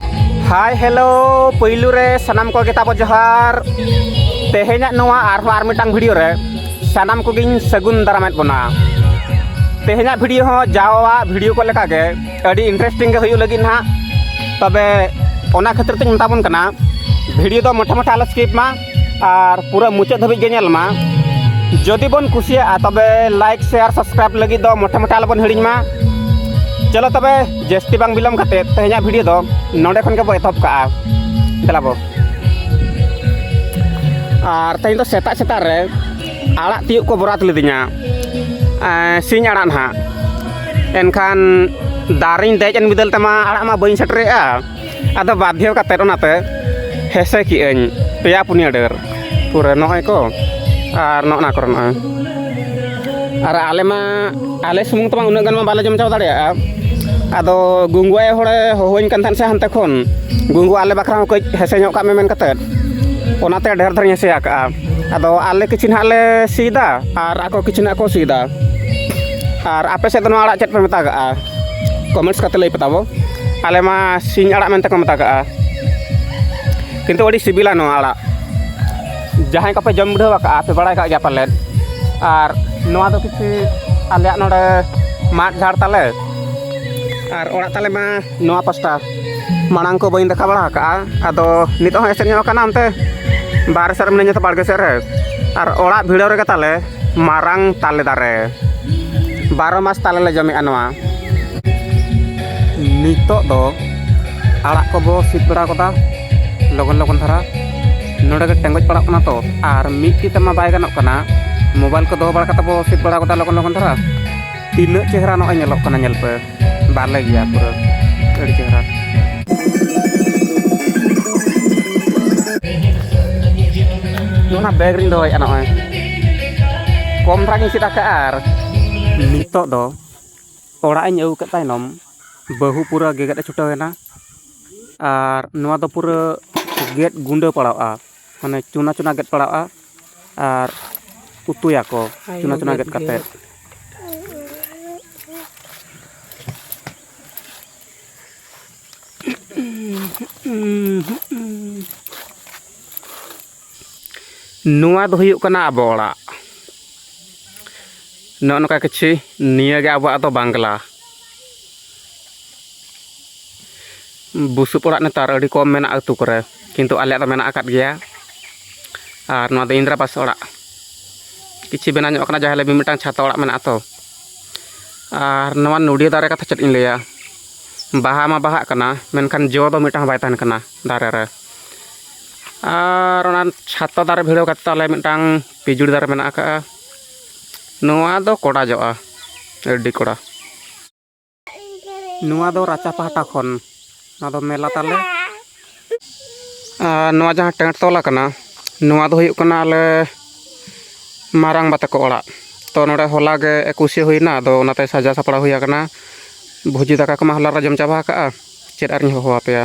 ᱦᱟᱭ hello ᱯᱩᱭᱞᱩ ᱨᱮ ᱥᱟᱱᱟᱢ ᱠᱚᱜᱮ ᱛᱟᱵᱚ ᱡᱚᱦᱟᱨ ᱛᱮᱦᱮᱧᱟᱜ ᱱᱚᱣᱟ ᱟᱨᱦᱚᱸ ᱟᱨ ᱢᱤᱫᱴᱟᱝ ᱵᱷᱤᱰᱤᱭᱳ ᱨᱮ ᱥᱟᱱᱟᱢ ᱠᱚᱜᱮᱧ ᱥᱟᱹᱜᱩᱱ ᱫᱟᱨᱟᱢᱮᱫ ᱵᱚᱱᱟ ᱛᱮᱦᱮᱧᱟᱜ ᱵᱷᱤᱰᱤᱭᱳ ᱦᱚᱸ ᱡᱟᱣᱟᱜ ᱵᱷᱤᱰᱤᱭᱳ ᱠᱚ ᱞᱮᱠᱟᱜᱮ ᱟᱹᱰᱤ ᱤᱱᱴᱟᱨᱮᱥᱴᱤᱝ ᱜᱮ ᱦᱩᱭᱩᱜ ᱞᱟᱹᱜᱤᱫ ᱱᱟᱦᱟᱜ ᱛᱚᱵᱮ ᱚᱱᱟ ᱠᱷᱟᱹᱛᱤᱨ ᱛᱮᱧ ᱢᱮᱛᱟᱵᱚᱱ ᱠᱟᱱᱟ ᱵᱷᱤᱰᱤᱭᱳ ᱫᱚ ᱢᱚᱴᱷᱮ ᱢᱚᱴᱷᱮ ᱟᱞᱚ ᱥᱠᱤᱯ ᱢᱟ ᱟᱨ ᱯᱩᱨᱟᱹ ᱢᱩᱪᱟᱹᱫ ᱫᱷᱟᱹᱵᱤᱡ ᱜᱮ ᱧᱮᱞ ᱢᱟ ᱡᱩᱫᱤ ᱵᱚᱱ ᱠᱩᱥᱤᱭᱟᱜᱼᱟ ᱛᱚᱵᱮ ᱞᱟᱭᱤᱠ ᱥᱮᱭᱟᱨ ᱥᱟᱵᱥᱠᱨᱟᱭᱤᱵ ᱞᱟᱹᱜᱤᱫ ᱫᱚ ᱢᱚᱴᱟ ᱢᱚᱴᱟ ᱟᱞᱚᱵᱚᱱ ᱦᱤᱲᱤᱧ ᱢᱟ ᱪᱚᱞᱚ ᱛᱚᱵᱮ ᱡᱟᱹᱥᱛᱤ ᱵᱟᱝ ᱵᱤᱞᱚᱢ ᱠᱟᱛᱮ ᱛᱮᱦᱮᱧᱟᱜ ᱵᱷᱤᱰᱤᱭᱳ ᱫᱚ ᱱᱚᱰᱮ ᱠᱷᱚᱱ ᱜᱮᱵᱚ ᱮᱛᱚᱦᱚᱵ ᱠᱟᱜᱼᱟ ᱫᱮᱞᱟ ᱵᱚ ᱟᱨ ᱛᱮᱦᱮᱧ ᱫᱚ ᱥᱮᱛᱟᱜ ᱥᱮᱛᱟᱜ ᱨᱮ ᱟᱲᱟᱜ ᱛᱤᱭᱳᱜ ᱠᱚ ᱵᱚᱨᱟᱛ ᱞᱤᱫᱤᱧᱟ ᱥᱤᱧ ᱟᱲᱟᱜ ᱱᱟᱦᱟᱜ ᱮᱱᱠᱷᱟᱱ ᱫᱟᱨᱮᱧ ᱫᱮᱡ ᱮᱱ ᱵᱤᱫᱟᱹᱞ ᱛᱮᱢᱟ ᱟᱲᱟᱜ ᱢᱟ ᱵᱟᱹᱧ ᱥᱮᱴᱮᱨᱮᱜᱼᱟ ᱟᱫᱚ ᱵᱟᱫᱽᱫᱷᱚ ᱠᱟᱛᱮᱫ ᱚᱱᱟᱛᱮ ᱦᱮᱸᱥᱮ ᱠᱮᱜ ᱟᱹᱧ ᱯᱮᱭᱟ ᱯᱩᱱᱭᱟᱹ ᱰᱟᱹᱨ ᱯᱩᱨᱟᱹ ᱱᱚᱜᱼᱚᱭ ᱠᱚ ᱟᱨ ᱱᱚᱜᱼᱚ ᱱᱟ ᱠᱚᱨᱮ ᱱᱚᱜᱼᱚᱭ ᱟᱨ ᱟᱞᱮ ᱢᱟ ᱟᱞᱮ ᱥᱩᱢᱩᱝ ᱛᱮᱢᱟ ᱩᱱᱟᱹᱜ ᱜᱟᱱ ᱢᱟ ᱵᱟᱞᱮ ᱡᱚᱢ ᱪᱟᱵᱟ ᱫᱟᱲᱮᱭᱟᱜᱼᱟ ᱟᱫᱚ ᱜᱩᱝᱜᱩ ᱟᱭᱳ ᱦᱚᱲᱮ ᱦᱚᱦᱚᱣᱟᱹᱧ ᱠᱟᱱ ᱛᱟᱦᱮᱱ ᱥᱮ ᱦᱟᱱᱛᱮ ᱠᱷᱚᱱ ᱜᱩᱝᱜᱩ ᱟᱞᱮ ᱵᱟᱠᱷᱨᱟ ᱦᱚᱸ ᱠᱟᱹᱡ ᱦᱮᱸᱥᱮ ᱧᱚᱜ ᱠᱟᱜ ᱢᱮ ᱢᱮᱱ ᱠᱟᱛᱮᱫ ᱚᱱᱟᱛᱮ ᱰᱷᱮᱨ ᱫᱷᱟᱨᱟᱧ ᱦᱮᱸᱥᱮ ᱟᱠᱟᱫᱼᱟ ᱟᱫᱚ ᱟᱞᱮ ᱠᱤᱪᱷᱩ ᱱᱟᱦᱟᱜ ᱞᱮ ᱥᱤᱫᱟ ᱟᱨ ᱟᱠᱚ ᱠᱤᱪᱷᱩ ᱱᱟᱦᱟᱜ ᱠᱚ ᱥᱤᱫᱟ ᱟᱨ ᱟᱯᱮ ᱥᱮᱫ ᱫᱚ ᱱᱚᱣᱟ ᱟᱲᱟᱜ ᱪᱮᱫ ᱯᱮ ᱢᱮᱛᱟᱜᱟᱜᱼᱟ ᱠᱚᱢᱮᱱᱴᱥ ᱠᱟᱛᱮ ᱞᱟᱹᱭ ᱯᱮᱛᱟᱵᱚ ᱟᱞᱮ ᱢᱟ ᱥᱤᱧ ᱟᱲᱟᱜ ᱢᱮᱱᱛᱮ ᱠᱚ ᱢᱮᱛᱟ ᱠᱟᱜᱼᱟ ᱠᱤᱱᱛᱩ ᱟᱹᱰᱤ ᱥᱤᱵᱤᱞᱟ ᱱᱚᱣᱟ ᱟᱲᱟᱜ ᱡᱟᱦᱟᱸᱭ ᱠᱚᱯᱮ ᱡᱚᱢ ᱵᱤᱰᱟᱹᱣ ᱟᱠᱟᱫᱼᱟ ᱯᱮ ᱵᱟᱲᱟᱭ ᱠᱟᱜ ᱜᱮᱭᱟ ᱯᱟᱞᱮᱫ ᱟᱨ ᱱᱚᱣᱟ ᱫᱚ ᱠᱤᱪᱷᱩ ᱟᱞᱮᱭᱟᱜ ᱱᱚᱰᱮ ᱢᱟᱫ ᱡᱷᱟᱲ ᱛᱟᱞᱮ ᱟᱨ ᱚᱲᱟᱜ ᱛᱟᱞᱮ ᱢᱟ ᱱᱚᱣᱟ ᱯᱟᱥᱴᱟ ᱢᱟᱲᱟᱝ ᱠᱚ ᱵᱟᱹᱧ ᱫᱮᱠᱷᱟ ᱵᱟᱲᱟ ᱟᱠᱟᱫᱼᱟ ᱟᱫᱚ ᱱᱤᱛᱚᱜ ᱦᱚᱸ ᱮᱥᱮᱫ ᱧᱚᱜ ᱟᱠᱟᱱᱟ ᱚᱱᱛᱮ ᱵᱟᱦᱨᱮ ᱥᱮᱫ ᱨᱮ ᱢᱤᱱᱟᱹᱧᱟ ᱛᱚ ᱵᱟᱲᱜᱮ ᱥᱮᱫ ᱨᱮ ᱟᱨ ᱚᱲᱟᱜ ᱵᱷᱤᱲᱟᱹᱣ ᱨᱮᱜᱮ ᱛᱟᱞᱮ ᱢᱟᱨᱟᱝ ᱛᱟᱞᱮ ᱫᱟᱨᱮ ᱵᱟᱨᱚ ᱢᱟᱥ ᱛᱟᱞᱮ ᱞᱮ ᱡᱚᱢᱮᱜᱼᱟ ᱱᱚᱣᱟ ᱱᱤᱛᱚᱜ ᱫᱚ ᱟᱲᱟᱜ ᱠᱚᱵᱚ ᱥᱤᱫ ᱵᱟᱲᱟ ᱠᱟᱫᱟ ᱞᱚᱜᱚᱱ ᱞᱚᱜᱚᱱ ᱫᱷᱟᱨᱟ ᱱᱚᱰᱮ ᱜᱮ ᱴᱮᱸᱜᱚᱡ ᱯᱟᱲᱟᱜ ᱠᱟᱱᱟ ᱛᱚ ᱟᱨ ᱢᱤᱫ ᱛᱤ ᱛᱮᱢᱟ ᱵᱟᱭ ᱜᱟᱱᱚᱜ ᱠᱟᱱᱟ ᱢᱳᱵᱟᱭᱤᱞ ᱠᱚ ᱫᱚᱦᱚ ᱵᱟᱲᱟ ᱠᱟᱛᱮ ᱵᱚ ᱥᱤᱫ ᱵᱟᱲᱟ ᱠᱟᱫᱟ ᱞᱚᱜᱚᱱ ᱞᱚᱜᱚᱱ ᱫᱷᱟᱨᱟ ᱛᱤᱱᱟᱹᱜ ᱪᱮᱦᱨᱟ ᱱᱚᱜᱼᱚᱭ ᱧᱮᱞᱚᱜ ᱠᱟᱱᱟ ᱧᱮᱞ ᱯᱮ ᱵᱟᱞᱮ ᱜᱮᱭᱟ ᱯᱩᱨᱟᱹ ᱟᱹᱰᱤ ᱪᱮᱦᱨᱟ ᱚᱱᱟ ᱵᱮᱜᱽ ᱨᱤᱧ ᱫᱚᱦᱚᱭᱮᱫᱼᱟ ᱱᱚᱜᱼᱚᱭ ᱠᱚᱢ ᱫᱷᱟᱨᱟ ᱜᱤᱧ ᱪᱮᱫ ᱟᱠᱟᱫᱼᱟ ᱟᱨ ᱱᱤᱛᱚᱜ ᱫᱚ ᱚᱲᱟᱜ ᱤᱧ ᱟᱹᱜᱩ ᱠᱮᱫ ᱛᱟᱭᱱᱚᱢ ᱵᱟᱹᱦᱩ ᱯᱩᱨᱟᱹ ᱜᱮᱜᱮᱫ ᱮ ᱪᱷᱩᱴᱟᱹᱣ ᱮᱱᱟ ᱟᱨ ᱱᱚᱣᱟ ᱫᱚ ᱯᱩᱨᱟᱹ ᱜᱮᱫ ᱜᱩᱸᱰᱟᱹ ᱯᱟᱲᱟᱜᱼᱟ ᱢᱟᱱᱮ ᱪᱩᱱᱟ ᱪᱩᱱᱟ ᱜᱮᱫ ᱯᱟᱲᱟᱜᱼᱟ ᱟᱨ ᱩᱛᱩᱭᱟᱠᱚ ᱪᱩᱱᱟ ᱪᱩᱱᱟ ᱜᱮᱫ ᱠᱟᱛᱮᱫ ᱱᱚᱣᱟ ᱫᱚ ᱦᱩᱭᱩᱜ ᱠᱟᱱᱟ ᱟᱵᱚ ᱚᱲᱟᱜ ᱱᱚᱜᱼᱚ ᱱᱚᱝᱠᱟ ᱠᱤᱪᱷᱩ ᱱᱤᱭᱟᱹᱜᱮ ᱟᱵᱚᱣᱟᱜ ᱫᱚ ᱵᱟᱝᱞᱟ ᱵᱩᱥᱩᱵ ᱚᱲᱟᱜ ᱱᱮᱛᱟᱨ ᱟᱹᱰᱤ ᱠᱚᱢ ᱢᱮᱱᱟᱜᱼᱟ ᱟᱹᱛᱩ ᱠᱚᱨᱮ ᱠᱤᱱᱛᱩ ᱟᱞᱮᱭᱟᱜ ᱫᱚ ᱢᱮᱱᱟᱜ ᱟᱠᱟᱫ ᱜᱮᱭᱟ ᱟᱨ ᱱᱚᱣᱟ ᱫᱚ ᱤᱱᱫᱨᱟ ᱵᱟᱥ ᱚᱲᱟᱜ ᱠᱤᱪᱷᱩ ᱵᱮᱱᱟᱣ ᱧᱚᱜ ᱟᱠᱟᱱᱟ ᱡᱟᱦᱟᱸ ᱞᱮ ᱢᱤᱫᱴᱟᱝ ᱪᱷᱟᱛᱟ ᱚᱲᱟᱜ ᱢᱮᱱᱟᱜᱼᱟ ᱛᱚ ᱟᱨ ᱱᱚᱣᱟ ᱱᱚᱰᱤᱭᱟᱹ ᱫᱟᱨᱮ ᱠᱟᱛᱷᱟ ᱪᱮᱫ ᱤᱧ ᱞᱟᱹᱭᱟ ᱵᱟᱦᱟ ᱢᱟ ᱵᱟᱦᱟᱜ ᱠᱟᱱᱟ ᱢᱮᱱᱠᱷᱟᱱ ᱡᱚ ᱫᱚ ᱢᱤᱫᱴᱟᱝ ᱵᱟᱭ ᱛᱟᱦᱮᱱ ᱠᱟᱱᱟ ᱫᱟᱨᱮ ᱨᱮ ᱟᱨ ᱚᱱᱟ ᱪᱷᱟᱛᱟ ᱫᱟᱨᱮ ᱵᱷᱤᱲᱟᱹᱣ ᱠᱟᱛᱮ ᱟᱞᱮ ᱢᱤᱫᱴᱟᱝ ᱯᱤᱡᱩᱲ ᱫᱟᱨᱮ ᱢᱮᱱᱟᱜ ᱟᱠᱟᱫᱼᱟ ᱱᱚᱣᱟ ᱫᱚ ᱠᱚᱰᱟ ᱡᱚᱜᱼᱟ ᱟᱹᱰᱤ ᱠᱚᱰᱟ ᱱᱚᱣᱟ ᱫᱚ ᱨᱟᱪᱟ ᱯᱟᱦᱴᱟ ᱠᱷᱚᱱ ᱱᱚᱣᱟ ᱫᱚ ᱢᱮᱞᱟ ᱛᱟᱞᱮ ᱟᱨ ᱱᱚᱣᱟ ᱡᱟᱦᱟᱸ ᱴᱮᱸᱴ ᱛᱚᱞ ᱟᱠᱟᱱᱟ ᱱᱚᱣᱟ ᱫᱚ ᱦᱩᱭᱩᱜ ᱠᱟᱱᱟ ᱟᱞᱮ ᱢᱟᱨᱟᱝ ᱵᱟ ᱛᱟᱠᱚ ᱚᱲᱟᱜ ᱛᱚ ᱱᱚᱰᱮ ᱦᱚᱞᱟ ᱜᱮ ᱮᱠᱩᱥᱮ ᱦᱩᱭᱱᱟ ᱟᱫᱚ ᱚᱱᱟᱛᱮ ᱥᱟᱡᱟᱣ ᱥᱟᱯᱲᱟᱣ ᱦᱩᱭ ᱟᱠᱟᱱᱟ ᱵᱷᱩᱡᱤ ᱫᱟᱠᱟ ᱠᱚᱢᱟ ᱦᱚᱞᱟ ᱨᱮ ᱡᱚᱢ ᱪᱟᱵᱟ ᱟᱠᱟᱜᱼᱟ ᱪᱮᱫ ᱟᱨᱤᱧ ᱦᱚᱦᱚ ᱟᱯᱮᱭᱟ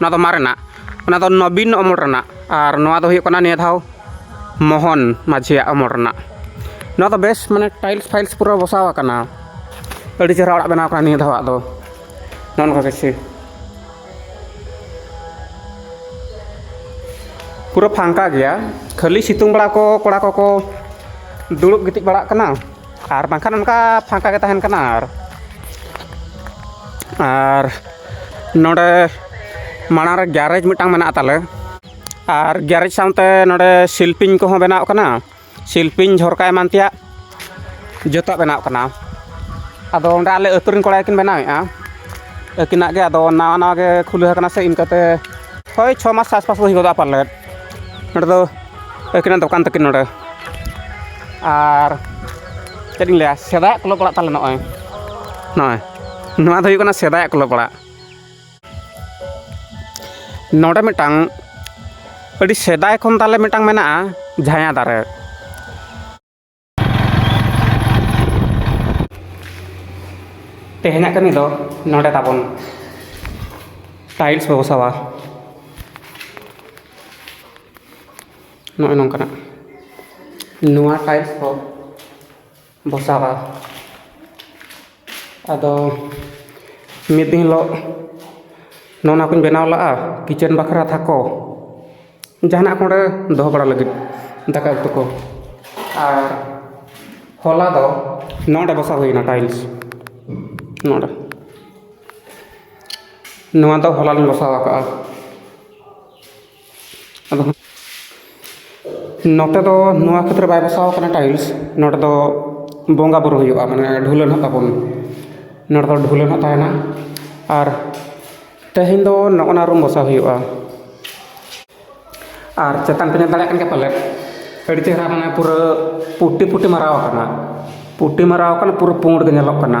ᱚᱱᱟ ᱫᱚ ᱢᱟᱨᱮᱱᱟᱜ ᱚᱱᱟ ᱫᱚ ᱱᱚᱵᱤᱱ ᱚᱢᱚᱞ ᱨᱮᱱᱟᱜ ᱟᱨ ᱱᱚᱣᱟ ᱫᱚ ᱦᱩᱭᱩᱜ ᱠᱟᱱᱟ ᱱᱤᱭᱟᱹ ᱫᱷᱟᱣ ᱢᱳᱦᱚᱱ ᱢᱟᱹᱡᱷᱤᱭᱟᱜ ᱚᱢᱚᱞ ᱨᱮᱱᱟᱜ ᱱᱚᱣᱟ ᱫᱚ ᱵᱮᱥ ᱢᱟᱱᱮ ᱴᱟᱭᱤᱞᱥ ᱯᱷᱟᱭᱤᱞᱥ ᱯᱩᱨᱟᱹ ᱵᱚᱥᱟᱣ ᱟᱠᱟᱱᱟ ᱟᱹᱰᱤ ᱪᱮᱦᱨᱟ ᱚᱲᱟᱜ ᱵᱮᱱᱟᱣ ᱟᱠᱟᱱᱟ ᱱᱤᱭᱟᱹ ᱫᱷᱟᱣᱟᱜ ᱫᱚ ᱱᱚᱜᱼᱚ ᱱᱚᱝᱠᱟ ᱠᱤᱪᱷᱩ ᱯᱩᱨᱟᱹ ᱯᱷᱟᱸᱠᱟ ᱜᱮᱭᱟ ᱠᱷᱟᱹᱞᱤ ᱥᱤᱛᱩᱝ ᱵᱮᱲᱟ ᱠᱚ ᱠᱚᱲᱟ ᱠᱚᱠᱚ ᱫᱩᱲᱩᱵ ᱜᱤᱛᱤᱡ ᱵᱟᱲᱟᱜ ᱠᱟᱱᱟ ᱟᱨ ᱵᱟᱝᱠᱷᱟᱱ ᱚᱱᱠᱟ ᱯᱷᱟᱸᱠᱟ ᱜᱮ ᱛᱟᱦᱮᱱ ᱠᱟᱱᱟ ᱟᱨ ᱟᱨ ᱱᱚᱰᱮ ᱢᱟᱲᱟᱝ ᱨᱮ ᱜᱮᱨᱮᱡᱽ ᱢᱤᱫᱴᱟᱝ ᱢᱮᱱᱟᱜ ᱛᱟᱞᱮ ᱟᱨ ᱜᱮᱨᱮᱡᱽ ᱥᱟᱶᱛᱮ ᱱᱚᱰᱮ ᱥᱤᱞᱯᱤᱧ ᱠᱚᱦᱚᱸ ᱵᱮᱱᱟᱣ ᱠᱟᱱᱟ ᱥᱤᱞᱯᱤᱧ ᱡᱷᱚᱨᱠᱟ ᱮᱢᱟᱱ ᱛᱮᱭᱟᱜ ᱡᱚᱛᱚᱣᱟᱜ ᱵᱮᱱᱟᱣ ᱠᱟᱱᱟ ᱟᱫᱚ ᱚᱸᱰᱮ ᱟᱞᱮ ᱟᱹᱛᱩ ᱨᱮᱱ ᱠᱚᱲᱟ ᱜᱮᱠᱤᱱ ᱵᱮᱱᱟᱣᱮᱜᱼᱟ ᱟᱹᱠᱤᱱᱟᱜ ᱜᱮ ᱟᱫᱚ ᱱᱟᱣᱟ ᱱᱟᱣᱟ ᱜᱮ ᱠᱷᱩᱞᱟᱹᱣ ᱠᱟᱱᱟ ᱥᱮ ᱤᱱᱠᱟᱹᱛᱮ ᱦᱳᱭ ᱪᱷᱚ ᱢᱟᱥ ᱟᱥᱯᱟᱥ ᱦᱩᱭ ᱜᱚᱫᱚᱜᱼᱟ ᱯᱟᱞᱮᱫ ᱱᱚᱰᱮ ᱫᱚ ᱟᱹᱠᱤᱱᱟᱜ ᱫᱚᱠᱟᱱ ᱛᱟᱹᱠᱤᱱ ᱱᱚᱰᱮ ᱟᱨ ᱪᱮᱫ ᱤᱧ ᱞᱟᱹᱭᱟ ᱥᱮᱫᱟᱭᱟᱜ ᱠᱞᱟᱵᱽ ᱚᱲᱟᱜ ᱛᱟᱞᱮ ᱱᱚᱜᱼᱚᱸᱭ ᱱᱚᱜᱼᱚᱸᱭ ᱱᱚᱣᱟ ᱫᱚ ᱦᱩᱭᱩᱜ ᱠᱟᱱᱟ ᱥᱮᱫᱟᱭᱟᱜ ᱠᱞᱚᱵᱽ ᱚᱲᱟᱜ ᱱᱚᱰᱮ ᱢᱤᱫᱴᱟᱝ ᱟᱹᱰᱤ ᱥᱮᱫᱟᱭ ᱠᱷᱚᱱ ᱛᱟᱞᱮ ᱢᱤᱫᱴᱟᱝ ᱢᱮᱱᱟᱜᱼᱟ ᱡᱷᱟᱭᱟ ᱫᱟᱨᱮ ᱛᱮᱦᱮᱧᱟᱜ ᱠᱟᱹᱢᱤ ᱫᱚ ᱱᱚᱰᱮ ᱛᱟᱵᱚᱱ ᱴᱟᱭᱤᱞᱥ ᱵᱚ ᱵᱚᱥᱟᱣᱟ ᱱᱚᱜᱼᱚᱭ ᱱᱚᱝᱠᱟᱱᱟᱜ ᱱᱚᱣᱟ ᱴᱟᱭᱤᱞᱥ ᱠᱚ ᱵᱚᱥᱟᱜᱼᱟ ᱟᱫᱚ ᱢᱤᱫ ᱫᱤᱱ ᱦᱤᱞᱳᱜ ᱱᱚᱜᱼᱚ ᱱᱟ ᱠᱚᱧ ᱵᱮᱱᱟᱣ ᱞᱟᱜᱼᱟ ᱠᱤᱪᱮᱱ ᱵᱟᱠᱷᱨᱟ ᱛᱷᱟᱠᱚ ᱡᱟᱦᱟᱱᱟᱜ ᱠᱚ ᱚᱸᱰᱮ ᱫᱚᱦᱚ ᱵᱟᱲᱟ ᱞᱟᱹᱜᱤᱫ ᱫᱟᱠᱟ ᱩᱛᱩ ᱠᱚ ᱟᱨ ᱦᱚᱞᱟ ᱫᱚ ᱱᱚᱰᱮ ᱵᱚᱥᱟ ᱦᱩᱭᱱᱟ ᱴᱟᱭᱤᱞᱥ ᱱᱚᱰᱮ ᱱᱚᱣᱟ ᱫᱚ ᱦᱚᱞᱟ ᱞᱤᱧ ᱵᱚᱥᱟᱣ ᱠᱟᱜᱼᱟ ᱟᱫᱚ ᱱᱚᱛᱮ ᱫᱚ ᱱᱚᱣᱟ ᱠᱷᱟᱹᱛᱤᱨ ᱵᱟᱭ ᱵᱚᱥᱟᱣ ᱠᱟᱱᱟ ᱴᱟᱭᱤᱞᱥ ᱱᱚᱰᱮ ᱫᱚ ᱵᱚᱸᱜᱟᱼᱵᱩᱨᱩ ᱦᱩᱭᱩᱜᱼᱟ ᱢᱟᱱᱮ ᱰᱷᱩᱞᱟᱹ ᱦᱟᱸᱜ ᱛᱟᱵᱚᱱ ᱱᱚᱰᱮ ᱫᱚ ᱰᱷᱩᱞᱟᱹ ᱦᱟᱸᱜ ᱛᱟᱦᱮᱱᱟ ᱟᱨ ᱛᱮᱦᱮᱧ ᱫᱚ ᱱᱚᱜᱼᱱᱟ ᱨᱩᱢ ᱵᱚᱥᱟᱣ ᱦᱩᱭᱩᱜᱼᱟ ᱟᱨ ᱪᱮᱛᱟᱱ ᱯᱮ ᱧᱮᱞ ᱫᱟᱲᱮᱭᱟᱜ ᱠᱟᱱ ᱜᱮᱭᱟ ᱯᱟᱞᱮᱫ ᱟᱹᱰᱤ ᱪᱮᱦᱨᱟ ᱢᱟᱱᱮ ᱯᱩᱨᱟᱹ ᱯᱩᱴᱴᱤ ᱯᱩᱴᱴᱤ ᱢᱟᱨᱟᱣ ᱠᱟᱱᱟ ᱯᱩᱴᱴᱤ ᱢᱟᱨᱟᱣ ᱠᱟᱱᱟ ᱯᱩᱨᱟᱹ ᱯᱩᱸᱰ ᱜᱮ ᱧᱮᱞᱚᱜ ᱠᱟᱱᱟ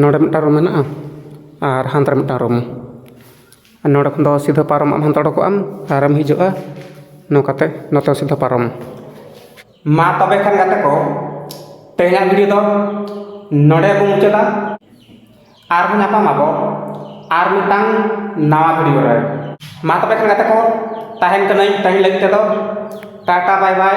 ᱱᱚᱰᱮ ᱢᱤᱫᱴᱟᱱ ᱨᱩᱢ ᱢᱮᱱᱟᱜᱼᱟ ᱟᱨ ᱦᱟᱱᱛᱮ ᱨᱮ ᱢᱤᱫᱴᱟᱱ ᱨᱩᱢ ᱱᱚᱰᱮ ᱠᱷᱚᱱ ᱫᱚ ᱥᱤᱫᱷᱟᱹ ᱯᱟᱨᱚᱢ ᱟᱢ ᱦᱟᱱᱛᱮ ᱩᱰᱩᱠᱚᱜ ᱟᱢ ᱟᱨᱮᱢ ᱦᱤᱡᱩᱜᱼᱟ ᱱᱚᱝᱠᱟᱛᱮ ᱱᱚᱛᱮ ᱥᱤᱫᱷᱟᱹ ᱯᱟᱨᱚᱢ ᱢᱟ ᱛᱚᱵᱮ ᱠᱷᱟᱱ ᱜᱟᱛᱮ ᱠᱚ ᱛᱮᱦᱮᱧᱟᱜ ᱵᱷᱤᱰᱤᱭᱳ ᱫᱚ ᱱᱚᱰᱮ ᱵᱚᱱ ᱢᱩᱪᱟᱹᱫᱟ ᱟᱨᱦᱚᱸ ᱧᱟᱯᱟᱢ ᱟᱵᱚ ᱟᱨ ᱢᱤᱫᱴᱟᱝ ᱱᱟᱣᱟ ᱵᱷᱤᱰᱤᱭᱳ ᱨᱮ ᱢᱟ ᱛᱚᱵᱮ ᱠᱷᱟᱱ ᱜᱟᱛᱮ ᱠᱚ ᱛᱟᱦᱮᱱ ᱠᱟᱹᱱᱟᱹᱧ ᱛᱮᱦᱮᱧ ᱞᱟᱹᱜᱤᱫ ᱛᱮᱫᱚ ᱴᱟᱴᱟ ᱵᱟᱭ ᱵᱟᱭ